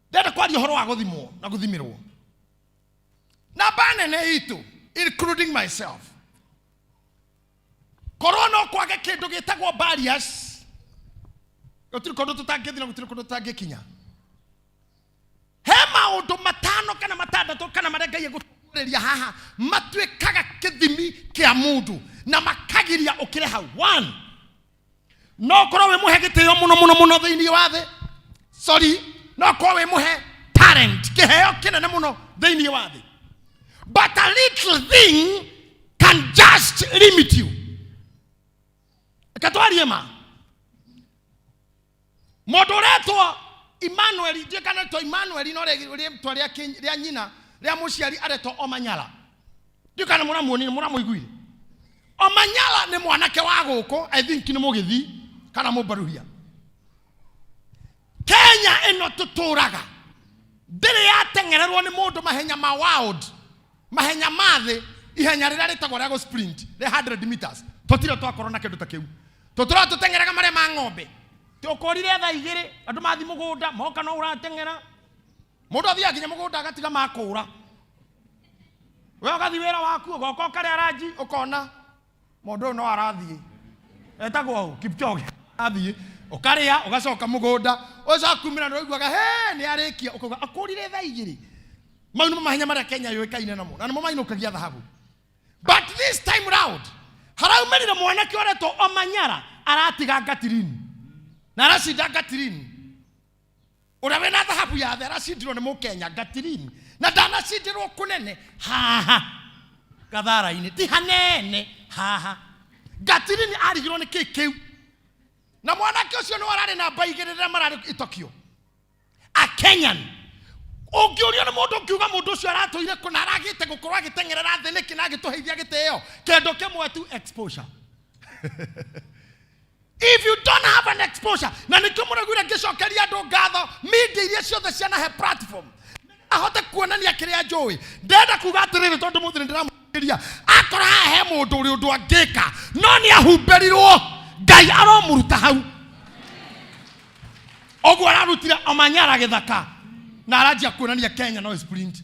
ndenda kwaria horo wa guthimwo na guthimirwo namba nene itu including myself korwo no kwage kindu gitagwo barriers gutiri kundu tutangithina gutiri kundu tutangĩkinya he maũndũ matano kana matandatũ kana marĩa ngai egũtũrĩria haha matuĩkaga kĩthimi kĩa mũndũ na makagiria ũkĩre hau one no korwo wĩ mũhe gĩtĩo mũno mũno mũno thĩinĩ wa thĩ sorry no korwo wĩ mũhe talent kĩheo kĩnene mũno thĩinĩ wa thĩ but a little thing can just limit you katwarie ma mũndũ ũretwo emmanuel ithuĩ kana to emmanuel no rĩ- rĩtwa rĩa kĩ- rĩa nyina rĩa mũciari aretwo omanyala ndiũ kana mũramuonire mũramũiguire omanyala nĩ mwanake wa gũkũ i think nĩ mũgĩthii kana mũmbaruhia kenya ĩno tũtũraga ndĩrĩ yateng'ererwo nĩ mũndũ mahenya ma wild mahenya ma thĩ ihenya rĩrĩa rĩtagwo rĩa gũ sprint rĩa 100 meters tũtire twakorwo na kĩndũ ta kĩu tũtũra tũteng'eraga marĩa ma ng'ombe tũkorire thaa igĩrĩ andũ mathi mũgũnda moka no ũrateng'era mũndũ athiaga nginya mũgũnda agatiga makũra we ũgathi wĩra waku ũgoka ũkarĩa ranji ũkona mũndũ ũyũ no arathiĩ etagwo ũ kipchoge athiĩ ũkarĩa ũgacoka mũgũnda ũcakumĩra nĩ ũiguaga he nĩ arĩkia ũkauga akũrire thaa igĩrĩ mau nĩmo mahenya marĩa kenya yũĩkaine namo na nĩmo mainũkagia thahabu but this time round haraumerire mwanake ũretwo omanyara aratiga ngatirini na aracinda ngatirini ũrĩa wĩna thahabu ya thera cindirwo nĩ mũkenya gatirini na ndanacindirwo kũnene haha gathara-inĩ ti hanene haha gatirini arigirwo nĩ kĩĩ kĩu na mwanake ũcio nĩ wararĩ na mba igĩrĩ rĩrĩa mararĩ itokio a kenyan ũngĩũrio nĩ mũndũ ũngiuga mũndũ ũcio aratũire kũ na aragĩte gũkorwo agĩteng'erera thĩ nĩkĩ na agĩtũheithia gĩtĩo kendo kĩmwe tu exposure if you don't have an exposure na nĩkĩo mũraguire ngĩcokeria andũ ngatho media iria ciothe cianahe platform ahote kuonania kĩrĩa njũĩ ndenda kuga atĩrĩrĩ tondũ mũthĩ nĩndĩramũkĩria akora haha he mũndũ ũrĩ ũndũ angĩka no nĩ ahumbĩrirwo ngai aromũruta hau ũguo ararutire omanyara gĩthaka na aranjia kuonania kenya no sprint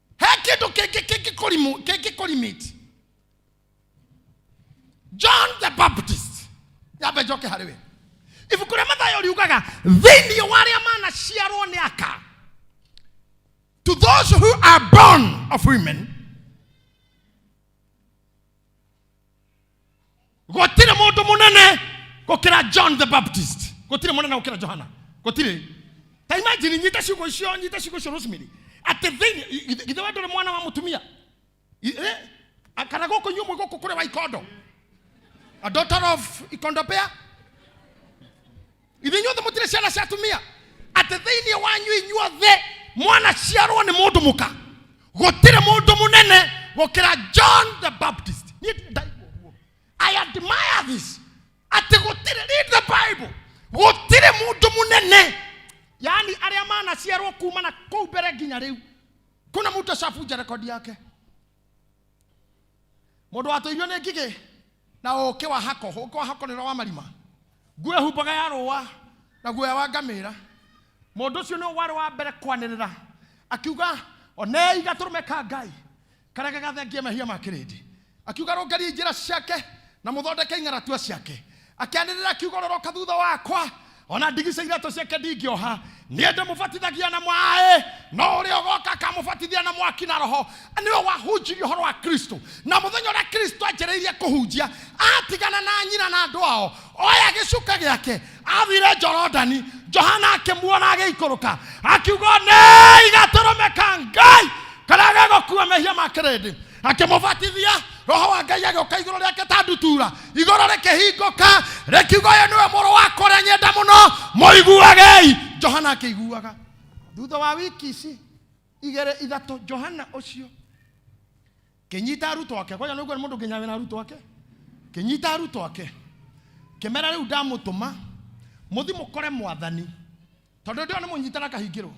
he kĩndũ kĩngĩ kĩngĩkũrimu kĩngĩkũrimiti john the baptist nyambe njoke harĩ we ibuku rĩa mathayo riugaga thĩinĩ wa arĩa manaciarwo nĩ aka to those who are born of women gũtirĩ mũndũ mũnene gũkĩra john the baptist gũtirĩ mũnene gũkĩra johana gũtirĩ ta imagine nyite ciugo icio nyite ciugo icio rosemary atĩ thĩinĩ githĩ- githĩ we ndũrĩ mwana wa mũtumia I- eh, a- kana gũkũ inyuĩ mwĩ gũkũ kũrĩ wa ikondo a daughter of ikondo pea ithinyuothe mũtirĩ ciana cia atumia atĩ thĩinĩ wanyu inyuothe mwana ciarwo nĩ mũndũ mũka gũtirĩ mũndũ mũnene gũkĩra john the baptist niĩ ndirĩ ndaigua ũguo i admire this atĩ gũtirĩ read the bible gũtirĩ mũndũ mũnene yaani arĩa manaciarwo kuma na kũu mbere nginya rĩu kuna mtu ashafunja rekodi yake mũndũ watũirio nĩ ngigĩ na ũũkĩ wa hako ũũkĩ wa hako nĩ ũrĩa wa marima nguo ĩhumbaga ya rũũa na guoya wa ngamĩra mũndũ ũcio nĩ warĩ wa mbere kwanĩrĩra akiuga onei gatũrũme ka ngai karĩa gagathengia mehia ma kĩrĩndĩ akiuga rũngariai njĩra ciake na mũthondeke ing'aratua ciake akĩanĩrĩra kiugo roroka thutha wakwa ona ndigi cia iratũ ciake ndingĩoha niĩ ndĩmũbatithagia na maĩ no ũrĩa ũgoka akamũbatithia na mwaki na roho nĩwe wahunjirie ũhoro wa kristo na mũthenya ũrĩa kristo anjĩrĩirie kũhunjia atigana na nyina na andũ ao oya gĩcuka gĩake athire jorodani johana akĩmuona agĩikũrũka akiuga nĩ igatũrũme ka ngai karĩa gegũkua mehia ma kĩrĩndĩ akĩmũbatithia roho wa ngai agĩũka igũrũ rĩake ta ndutura igũrũ rĩkĩhingũka rĩkiuga ũyũ nĩwe mũrũ wakwa ũrĩa nyenda mũno mũiguagei johana akĩiguaga thutha wa wiki ici igĩrĩ ithatũ johana ũcio kĩnyita arutwo ake kwaja nĩguo nĩ mũndũ nginya wĩna arutwo ake kĩnyita arutwo ake kĩmera rĩu ndamũtũma mũthi mũkore mwathani tondũ ndĩo nĩ mũnyitana kahingĩrwo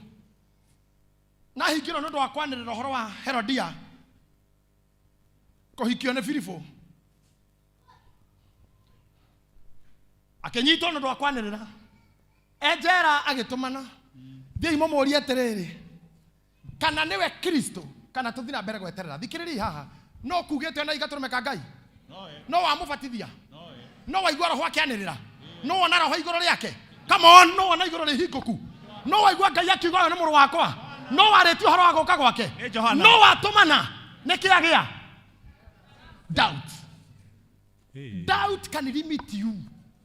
na ahingirwo nĩ ũndũ wa kwanĩrĩra ũhoro wa herodia kũhikio nĩ filipo akĩnyitwo nĩ ũndũ wa kwanĩrĩra enjera agĩtũmana thiĩi mũmũrie atĩrĩrĩ kana nĩwe kristo kana tũthiĩ na mbere gweterera thikĩrĩriai haha no kugĩte na igatũrũme ka ngai no wamũbatithia no waigua roho akĩanĩrĩra no wona roho igũrũ rĩake come on no wona igũrũ rĩhingũku no waigua ngai akiuga ũyũ nĩ mũrũ wakwa no warĩtie ũhoro wa gũka gwake Nĩ Johana. no watũmana nĩ kĩa gĩa doubt doubt can limit you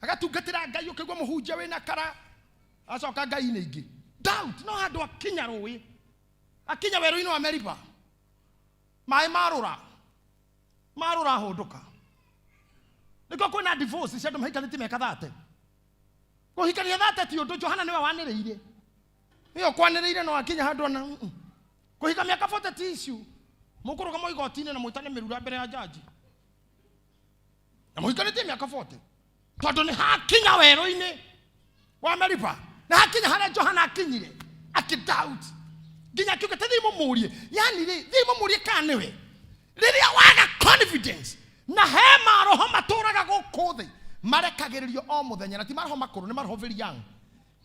agatungatĩra ngai ũkĩgua mũhunjia wĩna kara acoka ngai-inĩ ingĩ doubt no handũ akinya rũĩ akinya werũ-inĩ wa meriba maĩ marũra marũra hũndũka nĩkĩo kwĩna divorce cia andũ mahikanĩtie meka thate kũhikania thate ti ũndũ johana nĩwe wanĩrĩire ĩyo kwanĩrĩire no akinya handũ ona mm, mm. kũhika mĩaka 40 ti issue mũkũrũgama igoti-inĩ na mwĩtane mĩrura mbere ya jaji na mũhikanĩtie mĩaka 40 tondũ nĩ hakinya werũ-inĩ wa meriba na hakinya harĩa johana akinyire akidoubt nginya akiuga ta thiĩ mũmũrie yani rĩ thiĩ mũmũrie kana nĩwe rĩrĩa waga confidence na he maroho matũraga gũkũ thĩ marekagĩrĩrio o mũthenya na ti maroho makũrũ nĩ maroho very young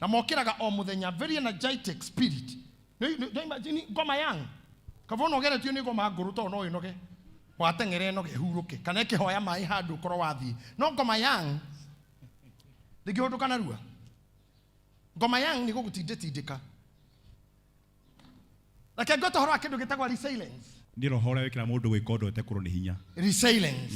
na mokĩraga o mũthenya very energetic spirit Nĩ- nĩ- nĩ imagine ngoma yang kaba ũnogeretio nĩ ngoma ngũrũ tondũ no ĩnoge wateng'ere ĩnoge ĩhurũke kana ĩkĩhoya maĩ handũ ũkorwo wathiĩ no ngoma yang ndĩngĩhũndũka narua ngoma yang nĩ gũgũtindĩtindĩka reke ngwe tohoro wa kĩndũ gĩtagwa resilience nä roho å rä a wä kä ra må ndå gwä ka å ndå atekå rwo nä hinya resilience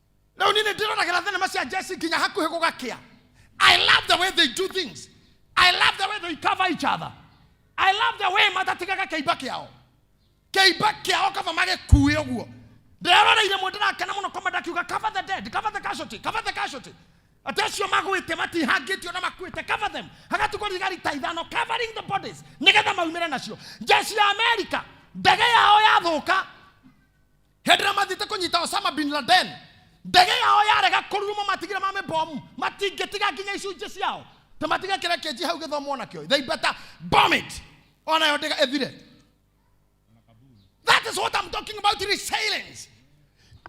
rä u nini ndĩroragĩra thenema cia jesi nginya hakuhĩ gũgakĩa i love the way they do things i love the way they cover each other i love the way matatigaga kĩimba kĩao kĩimba kĩao kaba magĩkuĩ ũguo ndĩroreire mũndũ ndakena mũno komenda akiuga cover the dead cover the casualty cover the casualty atĩ acio magwĩte matihangĩtio na makuĩte cover them hagatukwo thigari ta ithano covering the bodies nĩgetha maumĩre nacio jeshi ya amerika ndege yao yathũka hĩndĩ ĩrĩa mathiĩte kũnyita osama bin laden ndege yao yarega kũruruma matigire ma mĩbomu matingĩtiga nginya icunjĩ ciao ta matige kĩrĩa kĩnji hau gĩthomwo nakĩo they better bomb it onayo ndege ĩthire that is what I'm talking about resilience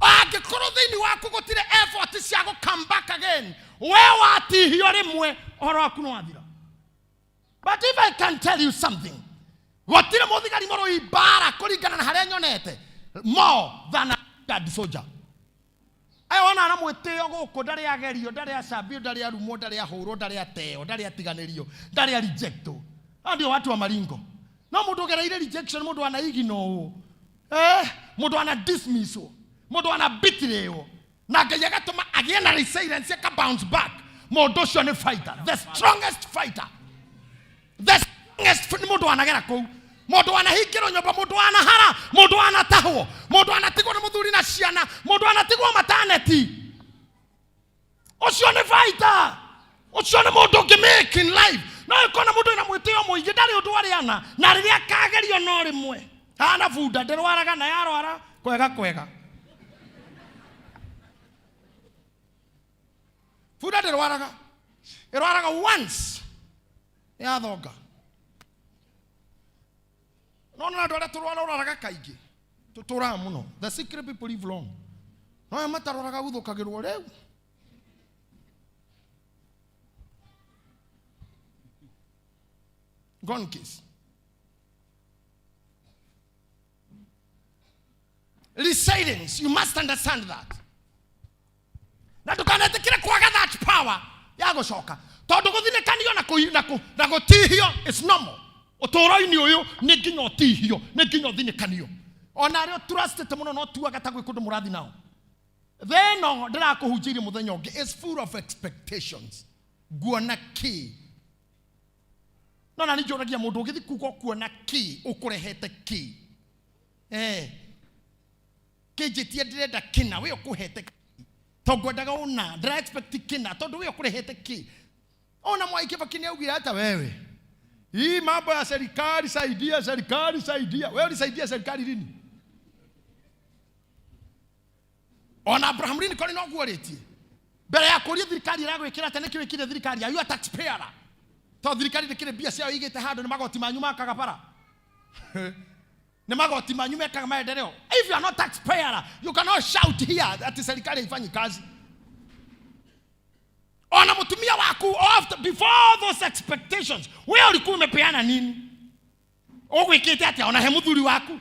angĩkorwo thĩinĩ waku gũtirĩ effort cia gũ come back again we watihio rĩmwe ũhoro waku nĩ wathira but if i can tell you something gũtirĩ mũthigari mũrũi mbara kũringana na harĩa nyonete more than a standard soldier aya wona ara mwĩtĩo gũkũ ndarĩ agerio ndarĩ acambio ndarĩ arumwo ndarĩ ahũrwo ndarĩ ateo ndarĩ atiganĩrio ndarĩ arejectwo aya ndio watu wa maringo no mũndũ ũgereire rejection mũndũ anaiginwo ũũ eh, mũndũ ana dismisswo mũndũ ana bitirĩwo na ngai agatũma agĩe na resilience aka bounce back mũndũ ũcio nĩ fighter the strongest fighter the strongest nĩ mũndũ wanagera kũu mũndũ wanahingĩrwo nyũmba mũndũ wanahara mũndũ wanatahwo mũndũ wanatigwo nĩ mũthuri na ciana mũndũ wanatigwo mataneti ũcio nĩ fighter ũcio nĩ mũndũ ũngĩ make in life no ĩkorwo na mũndũ ĩna mwĩtĩo mũingĩ ndarĩ ũndũ arĩ ana na rĩrĩa akagerio no rĩmwe ana bunda ndĩrwaraga na yarwara kwega kwega bunda ndĩrwaraga ĩrwaraga once yathonga no na andũ arĩa tũrwara ũrwaraga kaingĩ tũtũraga mũno the secret people live long no aya matarwaraga guthũkagĩrwo rĩu Gun case. Resilience. You must understand that. na ndũkanetĩkĩre kwaga that power ya gũcoka tondũ gũthinekanio na kũhi- na kũ- na gũtihio is normal ũtũũro-inĩ ũyũ nĩ nginya ũtihio nĩ nginya ũthinekanio ona arĩa ũturacitĩte mũno no tuaga ta gwĩ kũndũ mũrathi nao tha ĩno ndĩrakũhunjĩirie mũthenya ũngĩ is full of expectations nguona kĩ no na nĩnjũragia mũndũ ũgĩthi kuga ũkuona kĩ ũkũrehete kĩ eh kĩnjĩtie ndĩrenda kĩna wĩ ũkũhete kĩ to ngwendaga ũna ndĩra expect kĩna tondũ wĩ ũkũrehete kĩ ona mwai kĩbaki nĩ augire ata wewe hii mambo ya serikali saidia serikali saidia wewe ulisaidia serikali lini ona abraham lincoln noguo rĩtie mbere ya kũria thirikari ĩragwĩkĩra atĩ nĩkĩ wĩkire thirikari ayu taxpayer to thirikari ndĩkĩrĩ mbia ciao igĩte handũ nĩ magoti manyu makaga bara nĩ magoti manyu mekaga maendeleo if you are not taxpayer you cannot shout here ati serikali haifanyi kazi ona mtumia waku after before those expectations wewe ulikuwa umepeana nini ũgwĩkĩte atĩa ona he mũthuri waku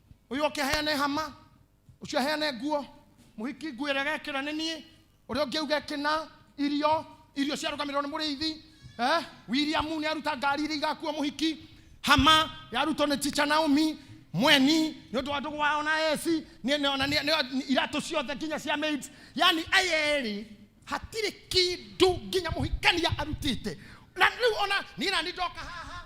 uyu oke aheane hama ucio aheane nguo muhiki nguo ĩrĩa gekĩra nĩ niĩ ũrĩa ũngĩ uge kĩna irio irio ciarũgamĩrĩrwo nĩ mũrĩithi eh? william nĩ aruta ngari iria igakuo mũhiki hama yarutwo nĩ ticha naomi mweni nĩ ũndũ wa ndũgũ wao na esi nĩ- nĩ- ona nĩ- nĩ- iratũ ciothe nginya cia maids yani aya erĩ hatirĩ kindu nginya mũhikania arutĩte na rĩu ona niĩ na nĩ ndoka haha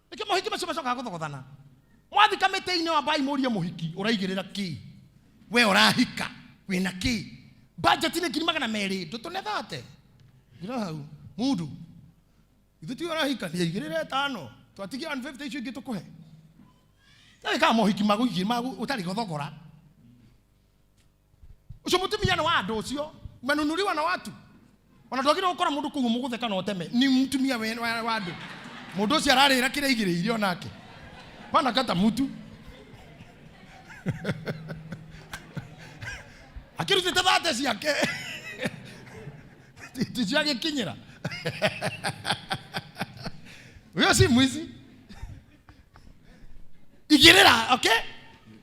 nĩkĩo mohiki macio macokaga gũthogothana mwathika mĩtĩ-inĩ wa mbai mũrie mũhiki ũraigĩrĩra kĩ we ũrahika wĩna kĩ bajeti nĩ ngiri magana merĩ ndũtũnethate ngira hau mundu ithu ti ũrahika nĩ aigĩrĩre ĩtano twatigia 150 icio ingĩ tũkũhe na wĩkaga mohiki magũigĩ ũtarĩ gũthogora ucio mutumia ni wa andu ucio umenunuriwa na watu ona twagire gukora mundu kuu muguthe kana uteme ni mutumia we- wa wa andu mundu ucio ararira kira igiriire onake bana kata mutu akirutite thate ciake ticiagikinyira uyo si mwizi igirira okay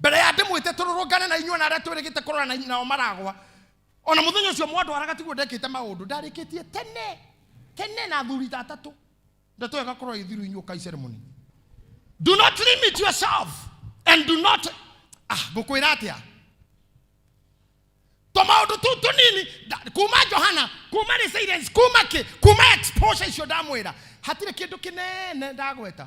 mbere ya ndĩmwĩte tũrũrũngane na inyuĩ na arĩa twĩrĩgĩte kũrora na nao maragwa ona mũthenya ũcio mwandwaraga tiguo ndekĩte maũndũ ndarĩkĩtie tene tene na athuri ta atatũ ndeto ĩyo ĩgakorwo ĩthiru inyuĩ kai ceremony do not limit yourself and do not ah ngũkwĩra atĩa tũmaũndũ tũu tũnini nda- kuma johana kuma resilience kuma kĩ kuma exposure icio ndamwĩra hatirĩ kĩndũ kĩnene ndagweta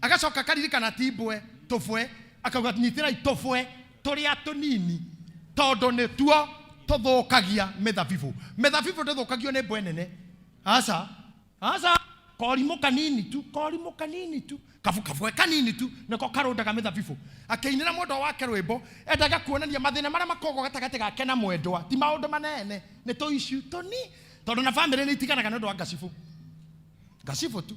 agacoka akaririkana ti mbwe tũbwe akauga nyitĩrai tũbwe tũrĩa tũnini tondũ nĩtuo tũthũkagia mĩthabibũ mĩthabibũ ndĩthũkagio nĩ mbwe nene aca aca korimũ kanini tu korimũ kanini tu kabu kabwe kanini tu nĩko karũndaga mĩthabibũ akĩinĩra mwendwa wake rwĩmbo endaga kuonania mathĩna marĩa makoragwo gatagatĩ gake na mwendwa ti maũndũ manene nĩ tũicu tũni tondũ na bamĩrĩ nĩ itiganaga nĩ ũndũ wa ngacibũ ngacibũ tu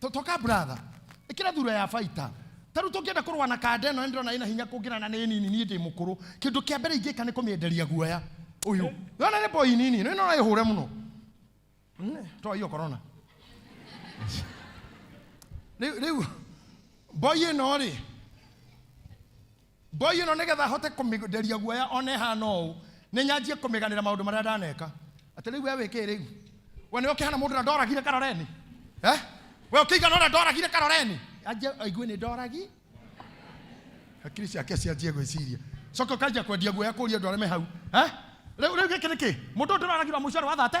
To- toka brother ikira thura ya baita taru tũngĩenda kũrũa na kanda ĩno nĩndĩrona ĩna hinya kũngĩra na nĩ nini niĩ ndĩ mũkũrũ kĩndũ kĩa mbere ingĩka nĩ kũmĩenderia guoya ũyũ yona nĩ boy nini nĩ nona ĩhũre mũno Mm, toa hiyo corona rĩu rĩu boy ĩno rĩ Ngoi ĩno nĩgetha hote kũmĩnderia guoya ona ĩhana ũũ, nĩ nyanjie kũmĩganĩra maũndũ marĩa ndaneka. Atĩ rĩu we wĩkĩĩ rĩu? We nĩwe ũkĩhana mũndũ ũrĩa ndoragire Karoreni? Eh? We ũkĩigana ũrĩa ndoragire Karoreni? Anjie aigue nĩ ndoragi. Hakiri ciake cianjie gwĩciria. Coka ũkanjia kwendia guoya kũria andũ arĩa me hau. Eh? Rĩu rĩu gĩkĩ nĩ kĩ? Mũndũ ũyũ ndĩroragire wa mũico arĩ wa thate?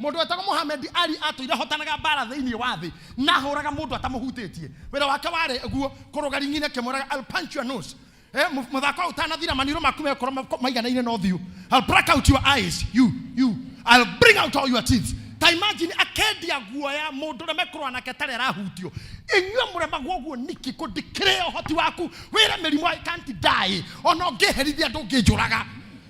Mũndũ wetagwo Mohamed Ali atũire hotanaga mbara thĩinĩ wa thĩ na ahũraga mũndũ atamũhutĩtie. Wĩra wake warĩ guo kũrũga ringi-inĩ akĩmũraga Al punch your nose. Eh, mũthako ũtanathira maniũrũ maku mekorwo maiganaine na ũthiũ. I'll break out your eyes. You, you. I'll bring out all your teeth. Ta imagine akendia guoya mũndũ ũrĩa mekũrũa nake tarĩ arahutio. Inyuĩ mũremagwo ũguo niki kũ ndikĩrĩ ũhoti waku wĩre mĩrimũ I can't die. Ona ũngĩherithia ndũngĩnjũraga.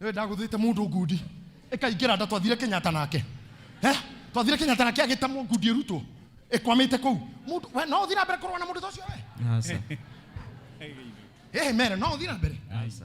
Nĩwe ndagũthĩte mũndũ ngundi. Ĩkaingĩra nda twathire Kenyatta nake. Eh? Twathire Kenyatta nake agĩtamwo ngundi ĩrutwo. Ĩkwamĩte kũu. Mũndũ we no ũthiĩ na mbere kũrũa na mũndũ ta ũcio we. Aca. Eh mere no ũthiĩ na mbere. Aca.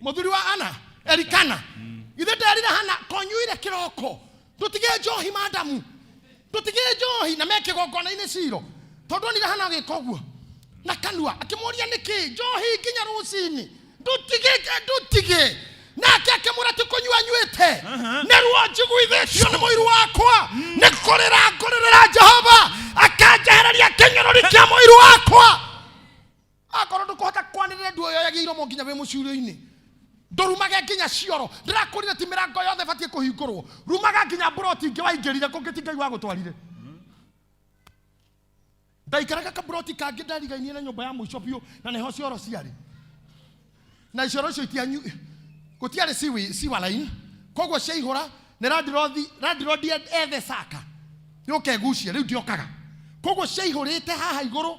muthuri wa ana erikana ithe nderire hana konyuire kiroko tutige njohi madamu tutige njohi na meke gongona-inĩ ciro tondu onire hana agĩka ũguo na kanua akĩmũria nĩkĩ njohi nginya rũcinĩ ndutige ndutige nake akĩmwĩra ti kũnyua nywĩte nĩruo njiguithĩtio nĩ mũiru wakwa nĩ kũrĩra ngũrĩrĩra jehova akanjehereria kĩnyũrũri kĩa mũiru wakwa akorwo ndũkũhota kwanĩrĩra nduoyoyagia iromo nginya wĩ mũcurio-inĩ ndũrumage nginya cioro ndĩrakwĩrire ti mĩrango yothe batiĩ kũhingũrwo rumaga nginya mburoti ingĩ waingĩrire kũngĩ ti ngai wagũtwarire ndaikaraga kamburoti kangĩ ndarigainie na nyũmba ya mũico biũ na nĩho cioro ciarĩ na icioro icio itianyu gũtiarĩ siwi- siwa line koguo ciaihũra nĩ randirothi randirodi ethe caka yũke ngucie rĩu ndiokaga koguo ciaihũrĩte haha igũrũ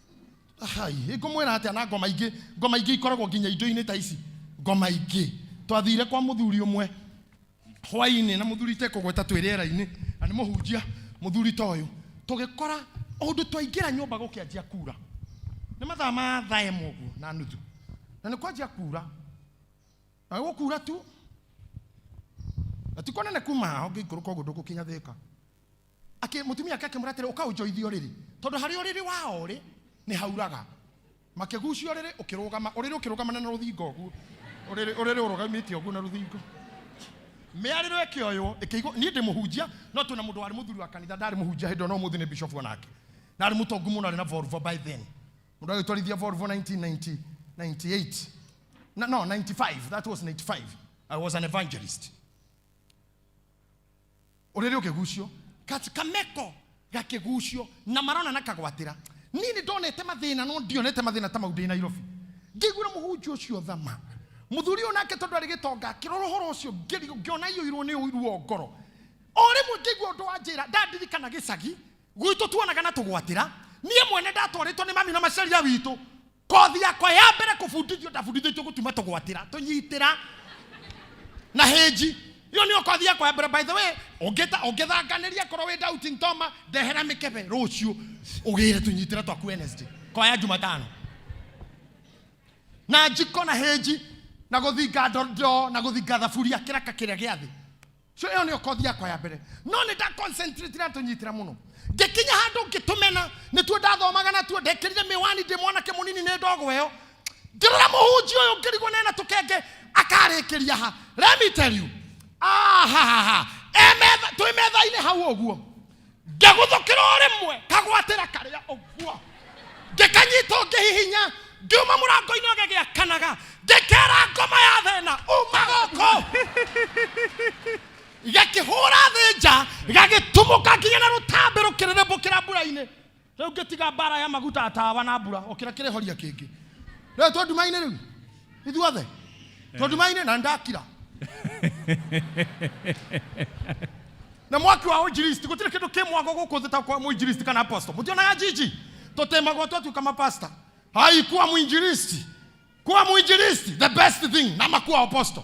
Ai, ngũmwĩra atĩa na ngoma ingĩ ngoma ingĩ ikoragwo nginya indo-inĩ ta ici ngoma ingĩ twathire kwa mũthuri ũmwe hwainĩ na mũthuri tekũgweta twĩ rĩera-inĩ na nĩ mũhunjia mũthuri ta ũyũ tũgĩkora ũndũ twaingĩra nyũmba gũkĩanjia kura nĩ mathaa ma thaa ĩmwe ũguo na nuthu na nĩ kwanjia kura na gũkura tu na ti kũnene kuma hao ngĩikũrũka ũguo ndũgũkinya thĩka Akĩ- mũtumia ake akĩmwĩra atĩrĩ ũka ũnjoithie ũrĩrĩ tondũ harĩa ũrĩrĩ wa orĩ nĩ hauraga makĩgucia ũrĩrĩ ũkĩrũgama ũrĩrĩ ũkĩrũgamana na rũthingo ũguo ũrĩrĩ ũrĩrĩ ũrũgamĩte ũguo na rũthingo mĩarĩro ĩkĩoywo ĩkĩigwo niĩ ndĩ mũhunjia no twĩna mũndũ warĩ mũthuri wa kanitha ndarĩ mũhunjia hĩndĩ ĩyo no mũthĩ nĩ bishop onake na arĩ mũtongu mũno arĩ na Volvo by then mũndũ agĩtwarithia Volvo 1998 no, no 95 that was 95 I was an evangelist ũrĩrĩ ũkĩgucio Kati- kameko gakĩgucio na marona na kagwatĩra niĩ nĩ ndonete mathĩna no ndionete mathĩna ta mau ndĩ nairobi ngĩiguĩra mũhunjia ũcio thama mũthuri ũyũ nake tondũ arĩ gĩtonga akĩrora ũhoro ũcio ngĩri- ngĩona iũirwo nĩ ũiru wa ngoro o rĩmwe ngĩigua ũndũ wa njĩra ndandirikana gĩcagi gwitũ tuonaga na tũgwatĩra niĩ mwene ndatwarĩtwo nĩ mami na macaria witũ kothi yakwa ya mbere kũbundithio ndabundithĩtio gũtuma tũgwatĩra tũnyitĩra na hĩnji ĩyo nĩyo kothi yakwa ya mbere by the way ũngĩta- ũngĩthanganĩria korwo wĩ doubting toma ndehera mĩkebe rũciũ ũgĩre tũnyitĩra twaku wednesday kwaya jumatano na njiko na hĩnji na gũthinga ndondo na gũthinga thaburia kĩraka kĩrĩa gĩa thĩ so ĩyo nĩyo kothi yakwa ya mbere no nĩ nda concentrate na tũnyitĩra mũno ngĩkinya handũ ngĩtũmena nĩtuo ndathomaga natuo ndekĩrire mĩwani ndĩ mwanake mũnini nĩ ndogo ĩyo ngĩrora mũhunji ũyũ ngĩrigwo nena tũkenge akarĩkĩria ha let me tell you ahahaha Emetha- twĩ metha-inĩ hau ũguo ngĩgũthũkĩra o rĩmwe kagwatĩra karĩa ũguo ngĩkanyita ũngĩhihinya ngiuma mũrango-inĩ ũgĩgĩakanaga ngĩkera ngoma ya thĩna uma gũkũ gakĩhũra thĩ nja gagĩtumũka nginya na rũtambĩ rũkĩrĩrĩmbũkĩra mbura-inĩ Rĩu ngĩtiga mbara ya maguta ya tawa na mbura okĩra kĩrĩhoria kĩngĩ. Rĩu twĩ nduma-inĩ rĩu ithuothe twĩ nduma-inĩ na nĩndakira na mwaki wa ũinjilisti gũtirĩ kĩndũ kĩ mwago gũkũ thĩ ta kwa mũinjilisti kana apostle mũtionaga jiji tũtĩmagwo twatuĩka mapasta hai kuwa mũinjilisti kuwa mũinjilisti the best thing na makuwa apostle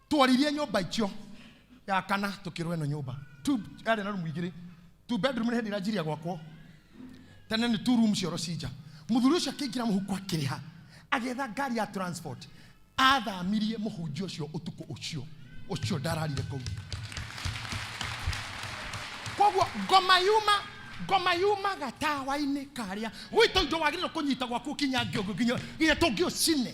tworirie nyumba icio ya kana tukirwo ino nyumba two yari na room igiri two bedroom ni hindi irajiria gwakwo tene ni two room cioro cinja muthuri ucio akiingira muhuko akiriha agetha ngari ya transport athamirie muhunjia ucio utuku ucio ucio ndararire kuu koguo ngoma yuma ngoma yuma gatawa-inĩ karĩa gwitũ indo wagĩrĩirwo kũnyita gwaku kinya ngĩũngũ nginya nginya tũngĩ ũcine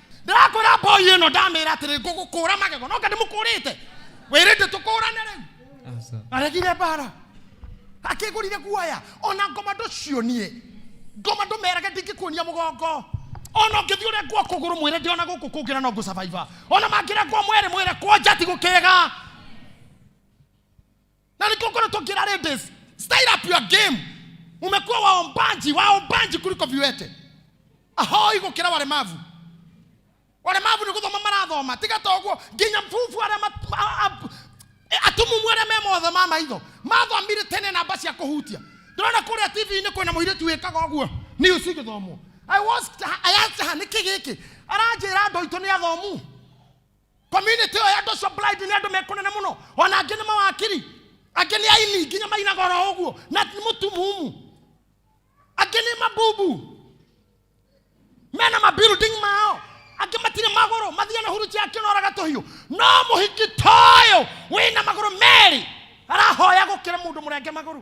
ndĩrakwĩra mboi ĩno ndamĩra atĩrĩ ngũgũkũra magego noka ndĩmũkũrĩte wĩrĩte tũkũrane rĩu Aca. aregire mbara akĩgũrire guoya ona ngoma ndũcionie ngoma ndũmerage ndingĩkuonia mũgongo ona ũngĩthiĩ ũrĩa ngwa kũgũrũ mwĩre ndĩ ona gũkũ kũngĩra no ngũcabaiba ona mangĩra ngwa mwere mwĩre kwanja ti gũkĩga na nikuo ngoretwo ngira ladies style up your game umekuwa waombaji waombaji kuliko viwete ahoi gukira walemavu walemavu ni guthoma marathoma tiga ta uguo nginya mbubu aria mat- a- a- e, atumumu aria me mothe ma maitho mathomire tene namba cia kuhutia ndona kuria tv-inĩ kwĩna mũirĩtu wĩkaga ũguo news igĩthomwo i watched her- I asked her, nĩkĩ gĩkĩ aranjĩra andũ aitũ nĩ athomu community ĩyo ya andũ acio blind nĩ andũ mekũnene mũno ona angĩ nĩ mawakiri angĩ nĩ aini nginya mainaga oro ũguo na nĩ mũtumumu angĩ nĩ mabubu mena mabuilding mao angĩ matirĩ magũrũ mathiĩ na huruci yake ũnoraga tũhiũ no mũhiki toyo wĩna magũrũ merĩ arahoya gũkĩra mũndũ mũrenge magũrũ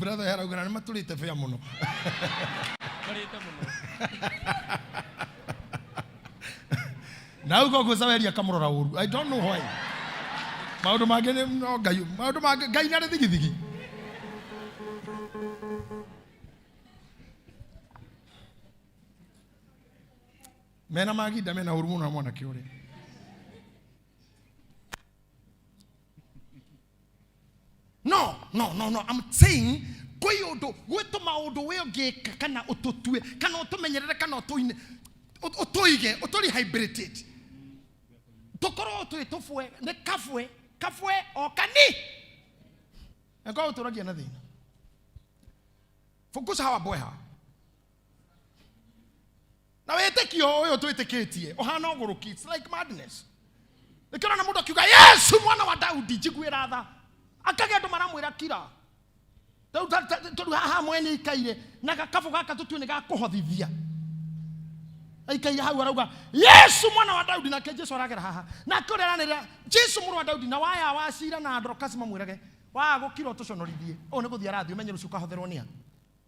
brother arauga na matũrĩte bĩa mũno Marĩte mũno. na uga ũguo caweria kamũrora ũru i don't know why maũndũ mangĩ nĩ no ngai maũndũ mangĩ ngai narĩ thigithigi mena maginda mena ũru mũno na mwanake ũrĩa no no no no I'm saying kwĩ ũndũ gwĩ tũmaũndũ wĩ ũngĩka kana ũtũtue kana ũtũmenyerere kana ũtũine ũ- ũtũige ũtũrehabilitate tũkorwo twĩ tũbwe nĩ kabwe kabwe o kani nakorwo ũtũragia na thĩna focus hawa boy hawa na wĩtĩkio ũyũ twĩtĩkĩtie ũhana ũgũrũki it's like madness nĩkĩona na mũndũ akiuga yesu mwana wa daudi njiguĩra tha akagĩa andũ maramwĩra kira Tau- ta- ta- tondũ haha mwene ikaire na gakabũ gaka tũtue nĩ gakũhothithia aikaire hau arauga yesu mwana wa daudi nake jesu aragera haha nake ũrĩa aranĩrĩra jesu mũrũ wa daudi na waya wa cira na andorokasi mamwĩrage waga gũkira ũtũconorithie ũũ nĩ gũthiĩ arathiĩ ũmenye rũciũ kahotherwo nĩa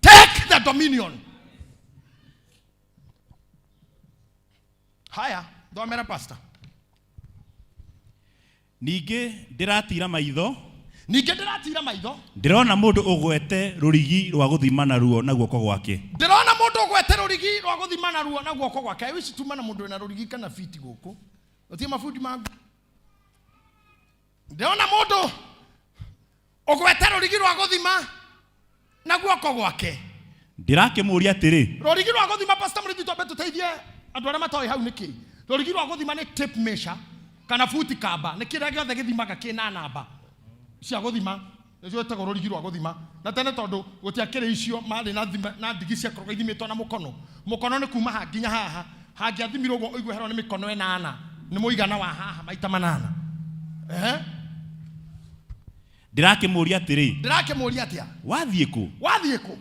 take the dominion haya thomera pastor ningĩ ndĩratira maitho ningĩ ndĩratira maitho ndĩrona mũndũ ũgwete rũrigi rwa gũthima naruo na guoko gwake ndĩrona mũndũ ũgwete rũrigi rwa gũthima naruo na guoko gwake wicituma na mũndũ wĩna rũrigi kana biti gũkũ ũtie mabundi mangu ndĩrona mũndũ ũgwete rũrigi rwa gũthima na guoko gwake ndirakĩmũũria atĩrĩ rũrigi rwa gũthima pasta mũrĩthi twambe tũteithie andũ arĩa matoĩ hau nĩkĩ rũrigi rwa gũthima nĩ tape measure kana buti kamba nĩ kĩrĩa gĩothe gĩthimaga kĩna namba cia gũthima nĩcio ĩtagwo rũrigi rwa gũthima na tene tondũ gũtiakĩrĩ icio marĩ na thima na ndigi ciakoragwo ithimĩtwo na mũkono mũkono nĩ kuma ha nginya haha hangĩathimirwo ũguo ũigua herwo nĩ mĩkono ĩnana nĩ mũigana wa haha maita manana ehe ndĩrakĩmũũria atĩrĩ ndĩrakĩmũria atĩa wathiĩ kũ wathiĩ kũ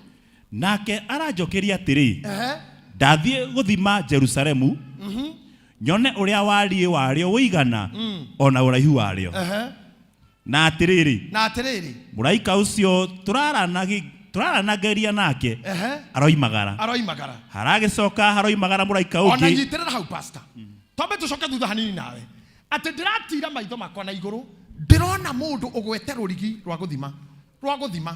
nake aranjokeria atĩrĩ ehe ndathiĩ gũthima jerusalemu nyone ũrĩa wariĩ warĩo ũigana o na ũraihu warĩo ehe Na atĩrĩrĩ, na atĩrĩrĩ mũraika ũcio tũraranagi- tũraranagĩria nake ehe aroimagara. aroimagara Haragĩcoka haroimagara mũraika ona ũngĩ. nyitĩrĩra hau pasta twambe tũcoke thutha hanini nawe atĩ ndĩratira maitho makwa na igũrũ ndĩrona mũndũ ũgwete rũrigi rwa gũthima rwa gũthima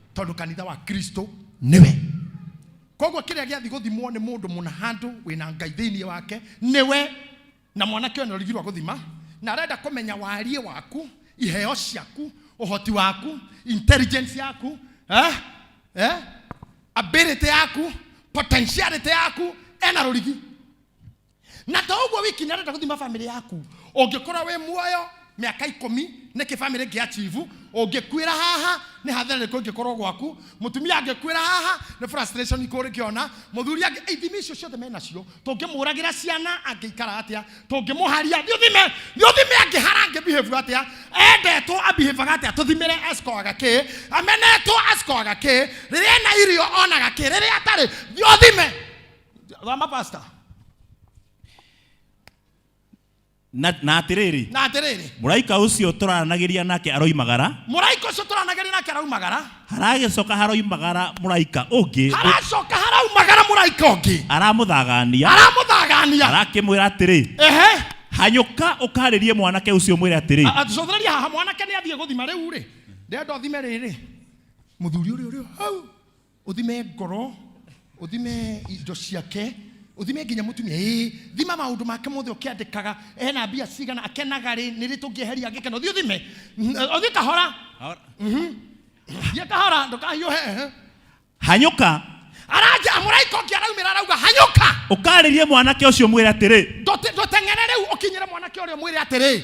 tondå kanitha wa kristo nĩwe koguo kĩrĩa gĩathi gũthimwo nĩ mũndũ mũna handũ wĩna ngai thĩinĩ wake nĩwe na mwanake ũyũ nĩorigirwo gũthima na arenda kũmenya wariĩ waku iheo ciaku ũhoti waku intelligence yaku eh? Eh? ability yaku potentiality yaku ena rũrigi na to ũguo wiki nĩarenda gũthima bamĩrĩ yaku ũngĩkorwo wĩ muoyo mĩaka ikũmi nĩkĩ bamĩrĩ ĩngĩ ya chibu ũngĩkuĩra haha nĩ hathara rĩkũ ĩngĩkorwo gwaku mũtumia angĩkuĩra haha nĩ frustration ikũ ũrĩkĩona mũthuri angĩ ithimi icio ciothe menacio tũngĩmũragĩra ciana angĩikara atĩa tũngĩmũharia thiũthime thiũthime angĩhara angĩbihĩbu atĩa endetwo abihebaga atĩa tũthimĩre asikoaga kĩ amenetwo asikoaga kĩ rĩrĩa ena irio onaga kĩ rĩrĩa atarĩ thiũthime thoma pastor na na atĩrĩrĩ na atĩrĩrĩ mũraika ũcio tũranagĩria nake aroimagara mũraika ũcio tũranagĩria nake araumagara haragĩcoka haroimagara mũraika ũngĩ haracoka haraumagara mũraika ũngĩ aramũthagania aramũthagania arakĩmwĩra atĩrĩ ehe hanyũka ũkarĩrie mwanake ũcio mwĩre atĩrĩ A- atũcothereria haha mwanake nĩ athiĩ gũthima rĩu rĩ ndenda ũthime rĩrĩ mũthuri ũrĩa ũrĩa hau uthime ngoro uthime indo ciake uthime nginya mutumia ĩ thima maundu make mothe ukiandikaga ena mbia cigana akenaga rĩ nĩ rĩ tũngĩeheria angĩkena uthi uthime uthi kahora Ahora- thiĩ kahora ndũkahiũhe ehe. hanyũka aranja mũraika ũngĩ araumĩra arauga hanyũka ũkarĩrie mwanake ũcio mwĩre atĩrĩ Ndũte- ndũteng'ere rĩu ũkinyĩre mwanake ũrĩa mwĩre atĩrĩ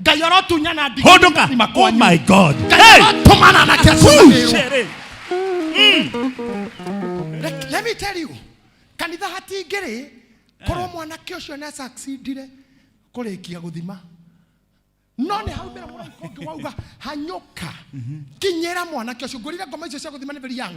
ngai arotunyana ndigi Hold on. nyũmba-inĩ Oh makwanyu. my God. ngai Hey. arotũmana na Woo, kĩcũrĩrwo shere. Let- let me tell you kanitha hatingĩrĩ korwo mwanake ũcio nĩ succeedire kũrĩkia gũthima no nĩ haumĩra mũraika ũngĩ wauga hanyũka kinyĩra mwanake ũcio ngũrire ngoma icio cia gũthima nĩ very young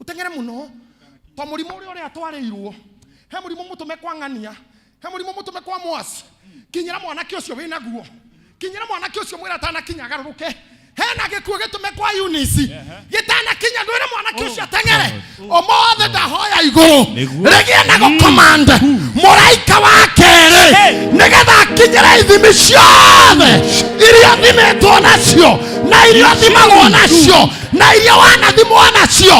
uteng'ere muno to murimu uria uria atwarirwo he murimu mutume kwa ng'ania he murimu mutume kwa mwasi kinyira mwanake ucio wi naguo kinyira mwanake ucio mwira atanakinya agaruruke hena gikuo gitume kwa unisi gitanakinya ndwire mwanake ucio ateng'ere omothe ndahoya iguru Nĩguo. rigie na gukomande muraika wa keri nigetha akinyire ithimi ciothe iria thimitwo nacio na iria thimagwo nacio na iria wanathimwo nacio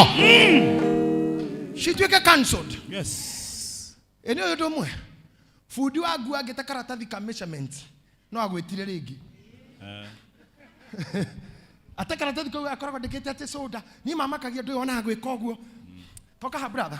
cituĩke cancelled Yes. ĩ nĩ ũyũ ũndũ ũmwe bundi wa nguo angĩte karatathi ka measurement no agwĩtire rĩngĩ ate karatathi kau akoragwo ndĩkĩte atĩ soda niĩ mamakagia ndũĩ ona gwĩka ũguo toka ha brother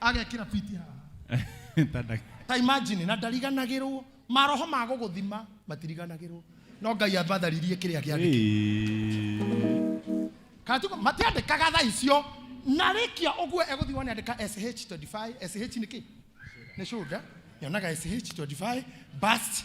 agekira fiti haha Tada- ta imagine na ndariganagirwo maroho ma gũgũthima matiriganagirwo no ngai ambatharirie kĩrĩa kĩandĩkĩtwo Hey. katuko matiandĩkaga tha icio na rĩkia ũguo egũthiĩ wone andĩka sh25 sh nĩ kĩ nĩ shoulder nyonaga sh25 bust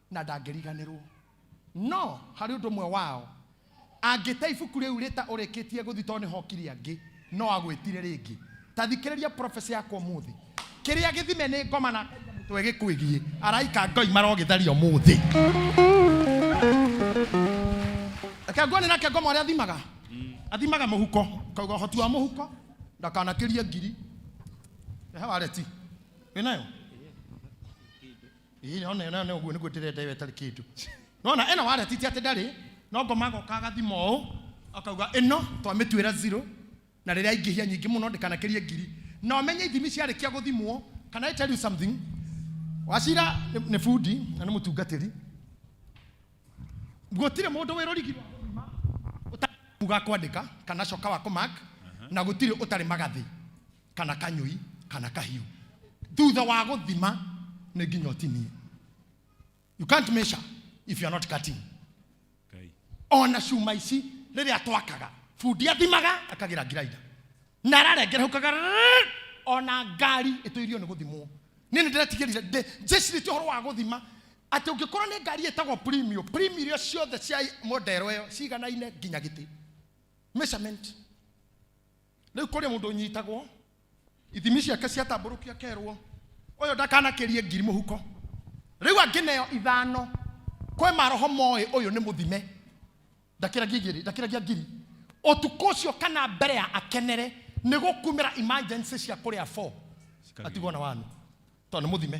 na ndangĩriganĩrũo. No harĩ ũndũ ũmwe wao, angĩte ibuku rĩu rĩta ũrĩkĩtie gũthiĩ tondũ nĩho okire angĩ, no agwĩtire rĩngĩ. Ta thikĩrĩria prophecy yakwa ũmũthĩ. Kĩrĩa gĩthime nĩ ngoma na ngaiga mũtwe gĩkwĩgiĩ. Araika Ngai marogĩtharia ũmũthĩ. Reke nguone nake ngoma ũrĩa athimaga. Athimaga mũhuko. Kauga ũhoti wa mũhuko, ndakanakĩrie ngiri. Rehe wareti. Wĩ nayo? Ĩĩ, ona ĩyo nayo nĩ ũguo nĩguo ndĩrenda ĩyo ĩtarĩ kĩndũ nona ĩno waleti ti atĩ ndarĩ no ngoma agoka agathima ũũ akauga ĩno twamĩtuĩra zero na rĩrĩa aingĩhia nyingĩ mũno ndĩkanakĩrie ngiri na ũmenye ithimi ciarĩkia gũthimwo can I tell you something wacira nĩ nĩ bundi na nĩ mũtungatĩri gũtirĩ mũndũ wĩ rũrigi rwa gũthima ũtarĩ ga kwandĩka kana coka wa kũmak na gũtirĩ ũtarĩ magathĩ kana kanyũi kana kahiũ thutha wa gũthima nĩ nginya ũtinie you can't measure if you are not cutting Ngai. ona cuma ici rĩrĩa twakaga bundi athimaga akagira ngiraida na ararengera hau kaga rrrr, ona ngari ĩtũirio nĩ gũthimwo niĩ nĩ ndĩretigĩrire ndĩ- njĩcirĩtie ũhoro wa gũthima atĩ ũngĩkorwo nĩ ngari ĩtagwo premium premium iria ciothe cia modero ĩyo ciganaine nginya gĩtĩ measurement rĩu kũrĩ mũndũ ũnyitagwo ithimi ciake ciatambũrũkio akerwo ũyũ ndakanakĩrie ngiri mũhuko rĩu angĩneo ithano kwĩ maroho moĩ ũyũ nĩ mũthime ndakĩragia igĩrĩ ndakĩragia ngiri ũtukũ ũcio kana mbere ya akenere nĩ gũkumĩra emergency cia kũrĩa 4 atigwo na wanu tondũ nĩ mũthime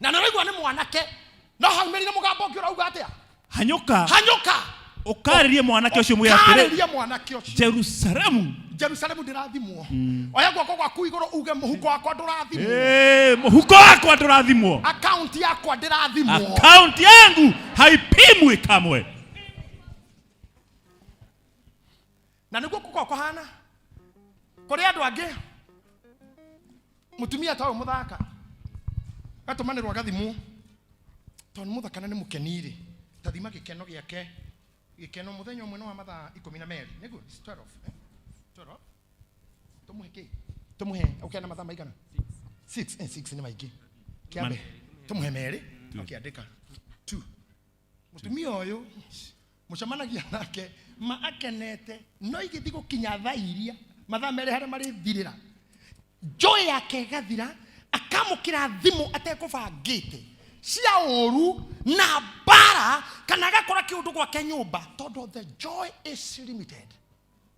na nä raigua nä mwanake no hau mä rä mugambo å ngä å rauga atä a hanyũka hanyåka ũkarĩrie mwanake ũcio mwĩra atĩrĩ karä mwanake å cio jerusalemu jerusalemu ndä rathimwo oya guoko gwaku igå rå uge må huko wakwa ndå rathimwo Eh, mũhuko wakwa ndũrathimwo akaunti yakwa ndä rathimwo akaunti yangu haipimwi kamwe na niguo kuko kuhana kuri andu angi mutumia ta uyu muthaka gatumanirwo agathimu tondu ni muthaka na ni mukeniri tathima gikeno giake gikeno muthenya umwe ni wa mathaa ikumi na meri niguo 12 eh? 12 tumuhe ki tumuhe ukena mathaa maigana 6 eh 6 ni maingi kiambe tumuhe meri akiandika 2 mutumia uyu mucemanagia nake ma akenete no igĩthi gũkinya thaa iria mathaa merĩ harĩa marĩthirĩra njoĩ yake ĩgathira akamũkĩra thimũ atekũbangĩte cia ũru na mbara kana agakora kĩũndũ gwake nyũmba tondũ the joy is limited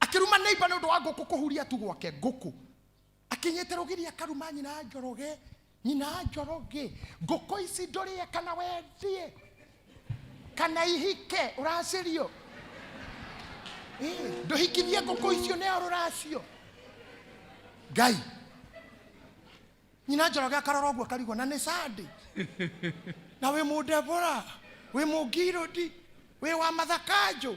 akĩruma neiba nĩ ũndũ wa ngũkũ kũhuria tu gwake ngũkũ akinyĩte rũgiri akaruma nyina njoroge nyina njoroge ngũkũ ici ndũrĩe kana wendie kana ihike ũracirio Ĩ, ndũhikithie ngũkũ icio nĩo rũracio ngai nyina njoroge akarora ũguo akarigwo na nĩ sande na wĩ mũndebora wĩ mũngirũndi wĩ wa mathakanjũ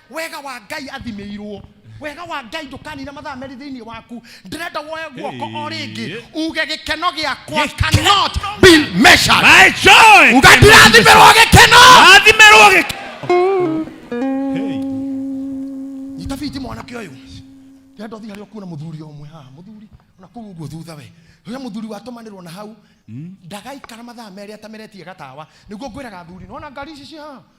Wega wa Ngai athimĩirwo. Wega wa Ngai ndũkanina mathaa merĩ thĩinĩ waku. Ndĩrenda woe guoko o rĩngĩ uge gĩkeno gĩakwa cannot be measured. My joy. Uga ndirathimĩrwo gĩkeno. Rathimĩrwo gĩkeno. Hey. Nyita biti mwanake ũyũ. Ndĩrenda ũthiĩ harĩa ũkuona mũthuri ũmwe haha. Mũthuri na kũu ũguo thutha we. Ũrĩa mũthuri watũmanĩrwo na hau ndagaikara mathaa merĩ atameretie gatawa. Nĩguo ngwĩraga athuri. Nĩwona ngari ici ciĩ haha?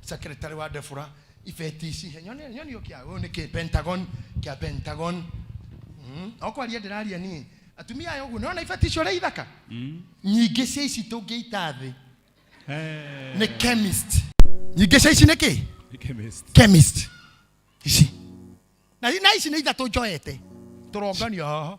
Secretary wa Defura ibeti ici he nyone nyone yo kia uyu niki Pentagon kia Pentagon mm. okwaria ndiraria nie atumia ayo guo nona ibeti icio ri ithaka mm. nyingi cia ici tungiita thi eh. ni chemist nyingi cia ici niki chemist chemist ici na na ici ni ithatu njoete turonganio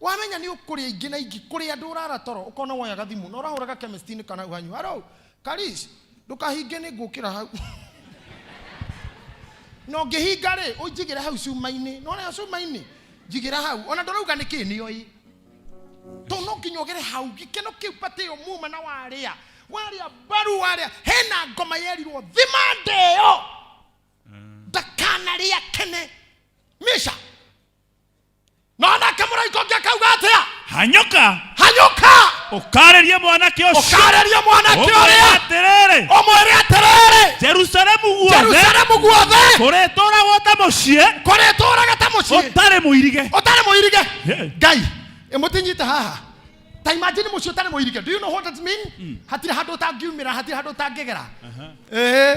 wamenya nĩ ũkũrĩa ingĩ na ingĩ kũrĩa andũ ũrara toro ũkona woya gathimũ na ũrahũra ga chemist-inĩ kana ũhanyu haro karis ndũkahinge nĩ ngũkĩra hau na ũngĩhinga rĩ ũnjigĩre hau cuma-inĩ nona yo cuma-inĩ njigĩra hau ona ndũrauga nĩ kĩ nĩ oĩ to no nginya ũgere hau gĩkeno kĩu patĩ ĩyo muma na warĩa warĩa mbaru warĩa hena ngoma yerirwo thima ndĩyo ndakanarĩa kene misha nonake mũraika ũngĩ akauga atĩa hanyũka hanyũka ũkaarĩrie mwanake ũcio ũkaarĩria mwanake ũmwĩre ũrĩa atĩrĩrĩ ũmwĩre atĩrĩrĩ jerusalemu guothe jerusalemu guothe kũrĩtũũragwo ta mũciĩ kũrĩtũũraga ta mũciĩ ũtarĩ mũirige ũtarĩ mũirige Hey. ngai ĩmũtinyite haha ta imagine mũciĩ ũtarĩ mũirige do you know what that mean hatirĩ handũ ũtangiumĩra hatirĩ handũ ũtangĩgera Ĩĩ.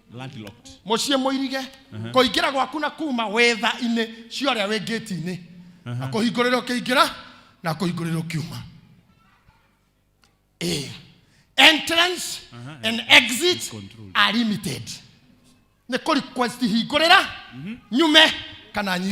landlocked. muciĩ mũirige kũingĩra gwaku na kuma wetha-inĩ cia ũrĩa wĩ ngĩti-inĩ na kũhingũrĩra ũkĩingĩra na kũhingũrĩra ũkiuma Eh, entrance and exit Control. are limited nĩ kũ request hingũrĩra nyume kana nyi